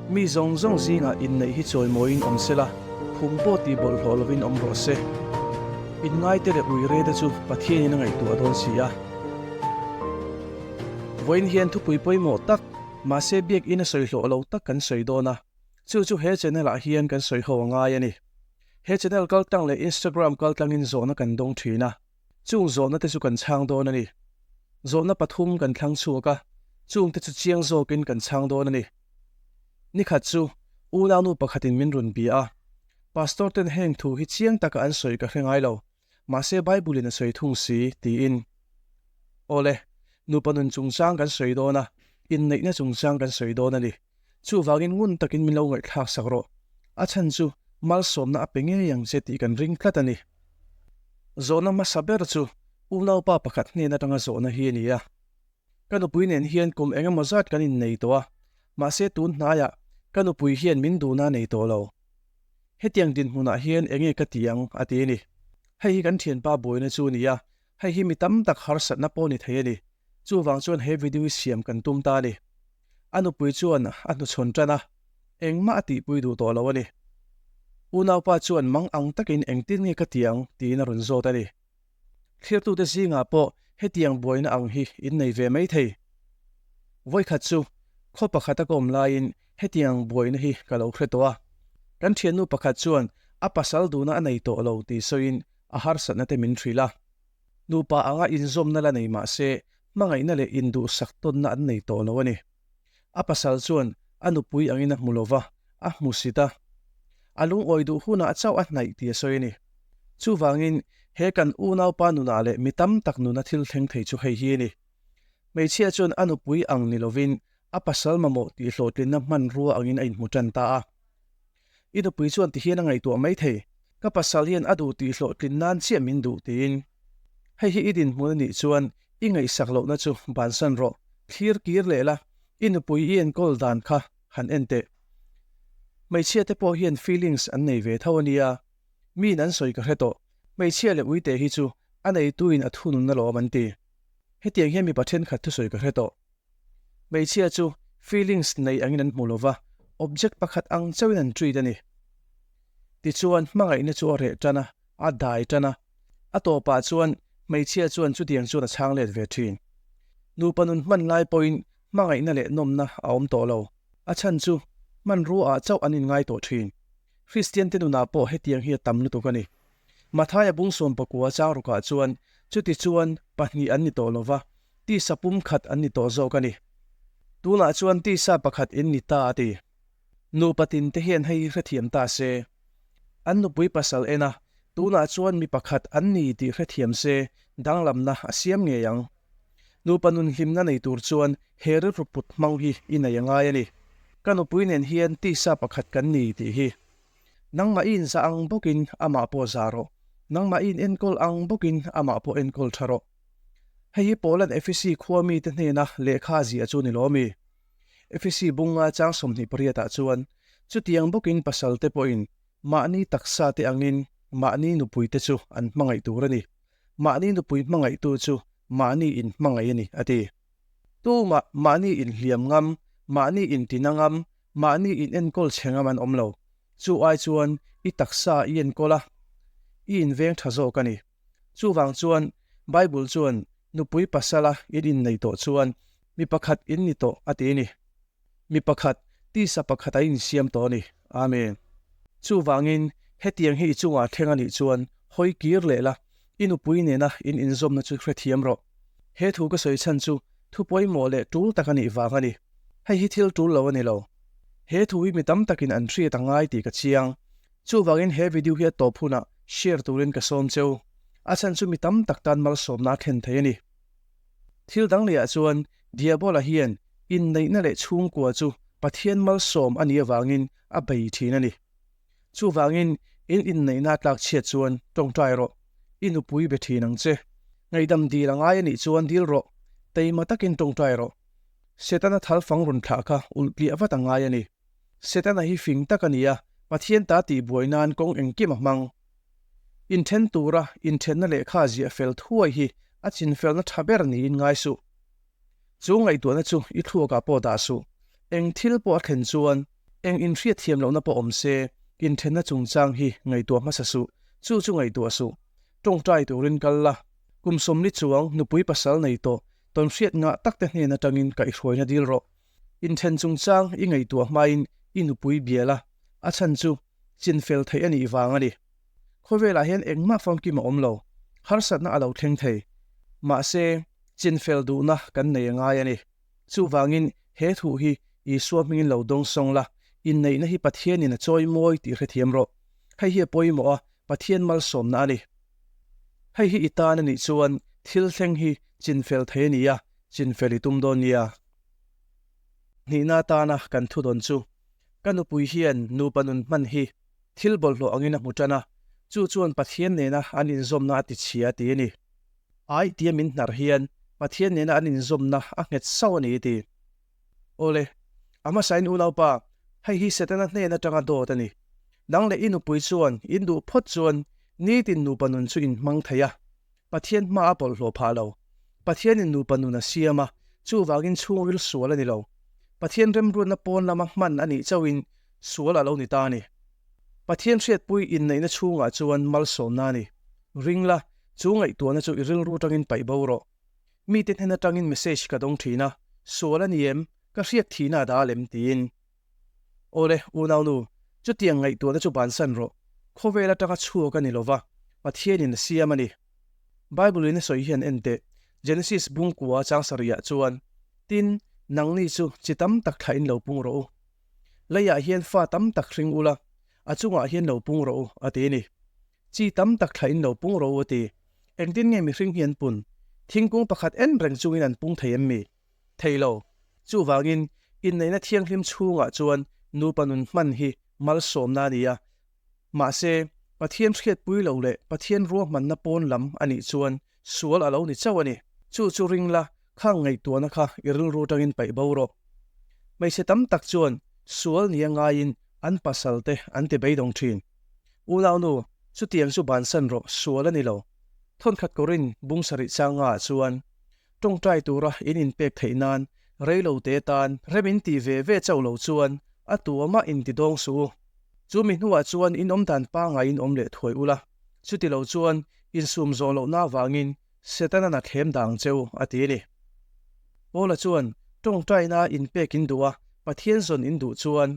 Mi zawng zawng zingah inneih hi chawi mawiin awm sela, phum pawh ti bawlh hlawh lovin awm rawh se. Inngaite leh ruireta chu Pathianin a ngaihtuah a dawn si a. Vawiin hian thupui pawimawh tak, mahse biakina sawi hlawh lo tak kan sawi dawn a. Chu chu he channel ah hian kan sawi ho a ngai a ni. He channel kaltlang leh Instagram kaltlangin zawhna kan dawng thin a, chung zawhna te chu kan chhang dawn a ni. Zawhna pathum kan thlang chhuak a, chung te chu chiang zawkin kan chhang dawn a ni. Nikhat chu unau nu pakhatin min rawn bia a, Pastor ten heng thu hi chiang taka an sawi ka hre ngai lo. Mahse, Bible-in a sawi thung si, tiin. Aw le, nupa nun chungchang kan sawi dawn a, inneihna chungchang kan sawi dawn a ni. Chuvangin ngun takin min lo ngaihthlak sak rawh. A chhan chu malsawmna a pe ngei ang che tih kan ring tlat a ni. Zawhna hmasa ber chu unaupa pakhat hnen atanga zawhna hi a ni a. Ka nupui nen hian kum eng emaw zat kan innei tawh a, mahse tun hnaiah ka nupui hian min duhna a nei tawh lo. Hetiang dinhmunah hian enge ka tih ang? a ti a ni. Hei hi kan thianpa buaina chu a ni a, hei hi mi tam tak harsatna pawh a ni thei a ni. Chuvang chuan he video hi siam kan tum ta a ni. A nupui chuan a hnuchhawn tan a, engmah a tihpui duh tawh lo a ni. Unaupa chuan mang ang takin engtin nge ka tih ang? tiin a rawn zawt a ni. Thirtute zingah pawh hetiang buaina ang hi in nei ve mai thei. Vawikhat chu khaw pakhat a kawm laiin hetiang buaina hi ka lo hre tawh a, kan thiannu pakhat chuan a pasal duna a nei tawh lo ti sawiin a harsatna te min hrilh a. Nupa anga inzawmna la nei mahse, hmangaihna leh induhsak tawnna an nei tawh lo a ni. A pasal chuan a nupui angin a hmu lo va, a hmu si ta. A lungawi duh hunah chauh a hnaih ti a sawi a ni. Chuvangin, he kan unaupa nunah leh mi tam tak nuna thil thleng thei chu hei hi a ni. Hmeichhia chuan a nupui ang ni lovin, a pasal mamawh tihhlawhtlinna hmanrua angin a inhmu tan ta a. I nupui chuan tihian a ngaihtuah mai thei, ka pasal hian a duh tih hlawhtlin nan chiah min duh tiin. Hei hi i dinhmun a nih chuan i ngaihsak lohna chu bansan rawh, thlir kir leh la, i nupui i enkawl dan kha han en teh. Hmeichhia te pawh hian feelings an nei ve tho a nia, miin an sawi ka hre tawh, hmeichhia leh uite hi chu a neitu in a thununna lawm an ti. Hetiang hian mipa thenkhat thusawi ka hre tawh. Hmeichhia chu feelings nei angin an hmu lo va, object pakhat ang chauhin an treat a ni. Tichuan hmangaihna chu a reh tan a, a dai tan a. A tawpah chuan hmeichhia chuan chutiang chuan a chhang let ve thin. Nupa nun hman lai pawhin hmangaihna leh nawmna a awm tawh lo. A chhan chu hmanruaah chauh an inngai tawh thin. Kristian te nunah pawh hetiang hi a tam lutuk a ni. Mathaia bungsawm pakua changrukah chuan chutichuan pahnih an ni tawh lo va, Tisa pum khat an ni tawh zawk a ni. Tunah chuan tisa pakhat in ni ta a ti. Nupa tin te hian hei hrethiam ta se. An nupui pasal ena tunah chuan mi pakhat an ni tih hrethiam se danglamna a siam ngei ang. Nupa nunhlimna nei tur chuan he rilru put hmang hi i nei a ngai a ni. Ka nupui nen hian tisa pakhat kan ni tih hi. Nangmahin za ang bawkin amah pawh za rawh. Nangmahin enkawl ang bawkin amah pawh enkawl tha rawh. Hei hi Poland FEC khua mite hnena lehkha a ziah chu ni lo a mi. FEC bunga chang sawmhnih pariatah chuan chutiang bawkin pasalte pawhin mahni taksate angin mahni nupuite chu an hmangaih tur a ni. Mahni nupui hmangaihtu chu mahni in hmangaih a ni, a ti. Tumah mahni in hliam ngam, mahni in tina ngam, mahni in enkawl che ngam an awm lo. Chu ai chuan i taksa i enkawl a, i inveng tha zawk a ni. Chuvang chuan Bible chuan nupui pasala in innei tawh chuan mi pakhat in ni tawh a ti a ni. Mi pakhat, tisa pakhat a insiam tawh a ni. Amen. Chuvangin hetiang hi i chungah thleng a nih chuan hawi kir leh la, i nupui nena in inzawmna chu hrethiam rawh. He thu ka sawi chhan chu thu pawimawh leh tul tak a nih vang a ni. Hei hi thil tul lo a ni lo. He thu hi mi tam takin an hriat a ngai tih ka chiang. Chuvangin he video hi a tawp hunah share turin ka sawm che u. A chhan chu mi tam tak tan malsawmna a thlen thei a ni. Thil dang leh ah chuan Diabola hian inneihna leh chhungkua chu Pathian malsawm a nih avangin a bei thin a ni. Chuvangin in inneihna a tlak chhiat chuan tawngtai rawh, i nupui be thin ang che. Ngaihdam dil a ngai a nih chuan dil rawh, teima takin tawngtai rawh. Setana thalfang runthlah kha ulh tliah vat a ngai a ni. Setana hi fing tak a ni a, Pathian ta tih buai nan kawng engkim a hmang. Inthen tura inthenna lehkha ziah fel thuai hi a chinfelna tha ber niin ngai suh. Chu ngaihtuahna chu i thluakah pawh dah suh. Eng thil pawh a thlen chuan eng inhriatthiam lohna pawh awm se, inthenna chungchang hi ngaihtuah hmasa suh, chu chu ngaihtuah suh. Tawngtai turin kal la, kum sawmli chuang nupui pasal nei tawh, tawnhriat ngah takte hnen atangin kaihhruaina dil rawh. Inthen chungchang i ngaihtuah hmain i nupui bial a, a chhan chu chin fel theih a nih vang a ni. Khawvelah hian engmah famkim a awm lo, harsatna a lo thleng thei. Mahse, chin fel duhna kan nei a ngai a ni. Chuvangin, he thu hi Isua hmingin lo dawng sawng la, inneihna hi Pathianin a chawi mawi tih hrethiam rawh. Hei hi a pawimawha Pathian malsawmna a ni. Hei hi i tan a nih chuan thil thleng hi chin fel thei a ni a, chin fel i tum dawn nia. Hnihna atana kan thu dawn chu, ka nupui hian nupa nun hman hi thil bawlhhlawh angin a hmu tan a, chu chuan Pathian nena an inzawmna a tichhia a ti a ni. Ai tia min hnar hian Pathian nena an inzawmna a nghet sau a ni i ti. Aw le, a hmasain unaupa, hei hi Setana hnen atanga dawt a ni. Nang leh i nupui chuan in duh phawt chuan nitin nupa nun chu in hmang thei a, Pathian hma a bawlhhlawh phah lo. Pathianin nupa nun a siam a, chuvangin chhungril sual a ni lo. Pathian remruatna pawn lama hman a nih chauhin sual a lo ni ta a ni. Pathian hriatpui inneihna chhungah chuan malsawmna a ni. Ring la, chu ngaihtuahna chu i rilru tangin paih bo rawh. Mite hnen atangin message ka dawng thin a, sual a ni em? Ka hriak thihna a da lem? tiin. Awle, U Naunu, chutiang ngaihtuahna chu bansan rawh. Khawvel atanga chhuak a ni lo va, Pathianin a siam a ni. Bible in a sawi hian en teh, Genesis bungkua chang sarihah chuan, Tin, nangni chu chi tam tak thlah in lo pung rawh u. Leiah hian fa tam tak hring u la, a chungah hian lo pung rawh u, a ti a ni. Chi tam tak thlah in lo pung rawh u a ti. Engtin nge mihring hi an pun? Thingkung pakhat en reng chungin an pung thei em mi? thei lo. Chuvangin, inneihna thianghlim chhungah chuan nupa nun hman hi malsawmna a ni a. Mahse, Pathian hriatpui lo leh Pathian ruahmanna pawn lam a nih chuan sual a lo ni chauh a ni. Chu chu ring la, khang ngaihtuahna kha i rilru atangin paih bo rawh. Hmeichhe tam tak chuan sual nia ngaiin an pasalte an ti beidawng thin. Unaunu, chutiang chu bansan rawh, sual a ni lo. Thawnkhat kawrin bungsa rih chang ngaah chuan Tawngtai tura in inpek theih nan rei lo te tan rem in ti ve ve chauh lo chuan a tuama in ti dawng suh u. Chu mi hnuah chuan in awm dan pangai in awm leh thuai u la. Chuti lo chuan insum zawh loh na vangin Setana-na thlem dang che u, a ti a ni. Paula chuan tawngtaina in pek in duh a, Pathian zawn in duh chuan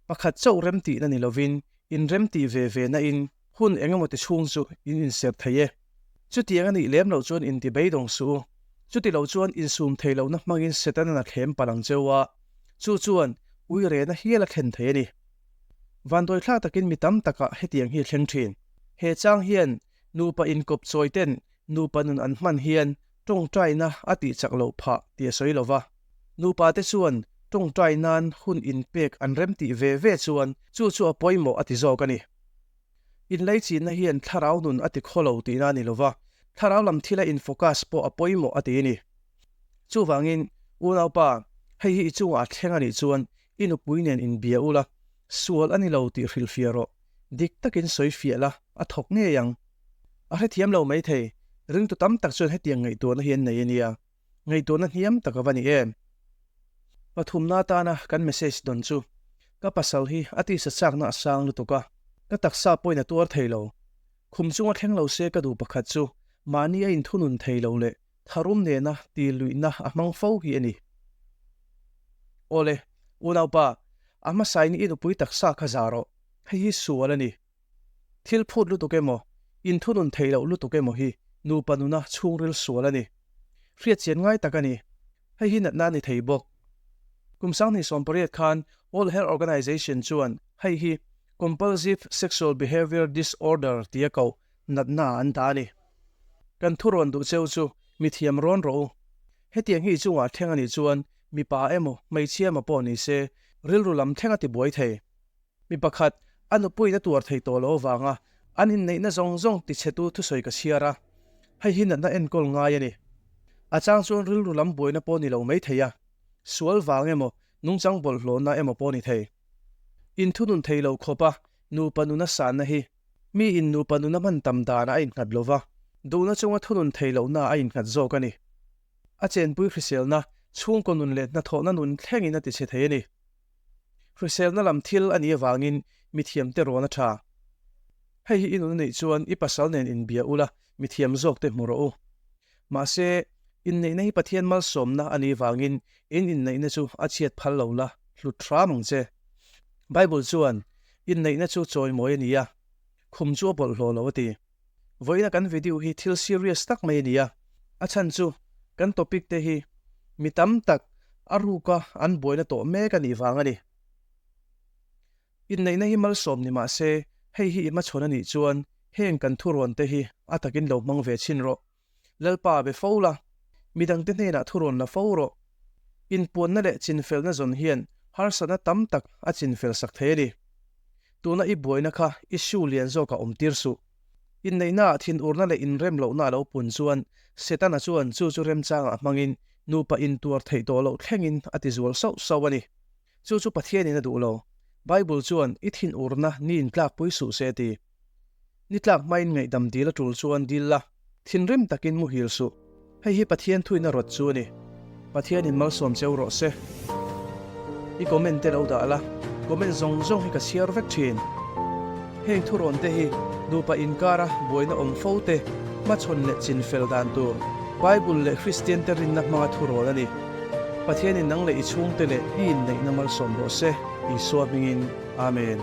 pakhat chauh remtihna ni lovin in remtih ve ve nain hun eng emaw ti chhung chu in inserh thei e. Chutiang a nih lem loh chuan in ti beidawng suh u. Chuti lo chuan in sum thei lohna hmangin Setana na thlem pa lang cheu a, chu chuan ui rehna hial a thlen thei a ni. Vanduaithlak takin mi tam takah hetiang hi a thleng thin. He chang hian nupa inkawp chawiten nupa nun an hman hian tawngtaina a tih chak loh phah ti a sawi lova. Nupa te chuan tawngtai nan hun in pek an rem tih ve ve chuan chu chu a pawimawh a ti zawk a ni. Inlei chinna hian thlarau nun a ti khaw lo tihna a ni lova, thlarau lam thila in focus pawh a pawimawh a ti ni. Chuvangin, Unaupa, hei hi i chungah a thleng a nih chuan i nupui nen in bia u la, sual a ni lo tih hrilh fiah rawh, dik takin sawi fiah la, a thawk ngei ang. A hrethiam lo mai thei, ringtu tam tak chuan hetiang ngaihtuahna hi an nei a nia. Ngaihtuahna hniam tak a va ni em? Pathumna atana kan message dawn chu ka pasal hi a tisa chakna a sang lutuk a, ka taksa pawhin a tuar thei lo. Khum chunga thleng lo se ka duh pakhat chu mahni a inthunun thei lo leh tharum nena ti luihna a hmang fo hi a ni. Awle, Unaupa, a hmasa in i nupui taksa kha za rawh, hei hi sual a ni. Thil phut lutuk emaw, inthunun theih loh lutuk emaw hi nupa nuna chhungril sual a ni. Hriatchian ngai tak a ni. Hei hi natna a ni thei bawk. Kum sanghnih sawmpariat khan World Health Organization chuan hei hi Compulsive Sexual Behaviour Disorder tia koh natna an ta a ni. Kan thurawn duh cheu chu mithiam rawn rawh u. Hetiang hi chungah thleng a nih chuan mipa emaw hmeichhia emaw pawh ni se, rilru lam thlenga tibuai thei. Mi pakhat a nupui na tuar thei tawh lo avanga an inneihna zawng zawng ti chhetu thusawi ka chhiar a, hei hi natna enkawl ngai a ni. A chang chuan rilru lam buaina pawh ni lo mai thei a, sual vang emaw nungchang bawlhhlawhna emaw pawh ni thei. In thunun thei lo khawpa nupa nuna sanna hi mi in nupa nuna hman tam dana a innghat lo va, duhna chunga thunun thei lohna a innghat zawk a ni. A chenpui hriselna chhungkaw nun leh hnathawhna nun thlengin a tichhe thei a ni. Hriselna lam thil a nih avangin mithiamte rawn a tha. Hei hi i nun a neih chuan i pasal nen inbia ula, mithiam zawkte hmu rawh u. Mahse, inneihna hi Pathian malsawmna a nih avangin in inneihna chu a chhiat phal lo la, hlut thram ang che. Bible chuan, Inneihna chu chawi mawi a ni a, khum chu a bawlh hlaw lo a ti. Vawiina kan video hi thil serious tak mai a ni a, a chhan chu kan topic te hi mi tam tak a ruka an buaina tawh mek a nih vang a ni. Inneihna hi malsawm ni mahse, hei hi i hmachhawn a nih chuan heng kan thuruan te hi a takin lo hmang ve chin rawh. Lalpa be fo la, midangte hnenah thu rawn la fo rawh. Inpuanna leh chinfelna zawn hian harsatna tam tak a chinfel sak thei a ni. Tuna i buaina kha i hriu lian zawkah awmtir suh. Inneihnaah thinurna leh inrem lohna a lo pun chuan Setana chuan chu chu remchangah hmangin nupa intuar theih tawh loh thlengin a ti zual sauh sauh a ni. Chu chu Pathianin a duh lo. Bible chuan i thinurna ni in tlakpui suh se a ti. Nitlak hmain ngaihdam dil a tul chuan dil la, thinrim takin muhil suh. Hei hi Pathian thuihna rawt chu a ni. Pathian in malsawm cheu rawh se. I comment te lo dah la, comment zawng zawng hi ka chhiar vek thin. Heng thurawn te hi nupa inkar a buaina awm fo te hmachhawn leh chin fel dan tur Bible leh Kristian te rinna hmanga thurawn a ni. Pathian in nang leh i chhungte leh i inneihna malsawm rawh se, Isua hmingin. Amen.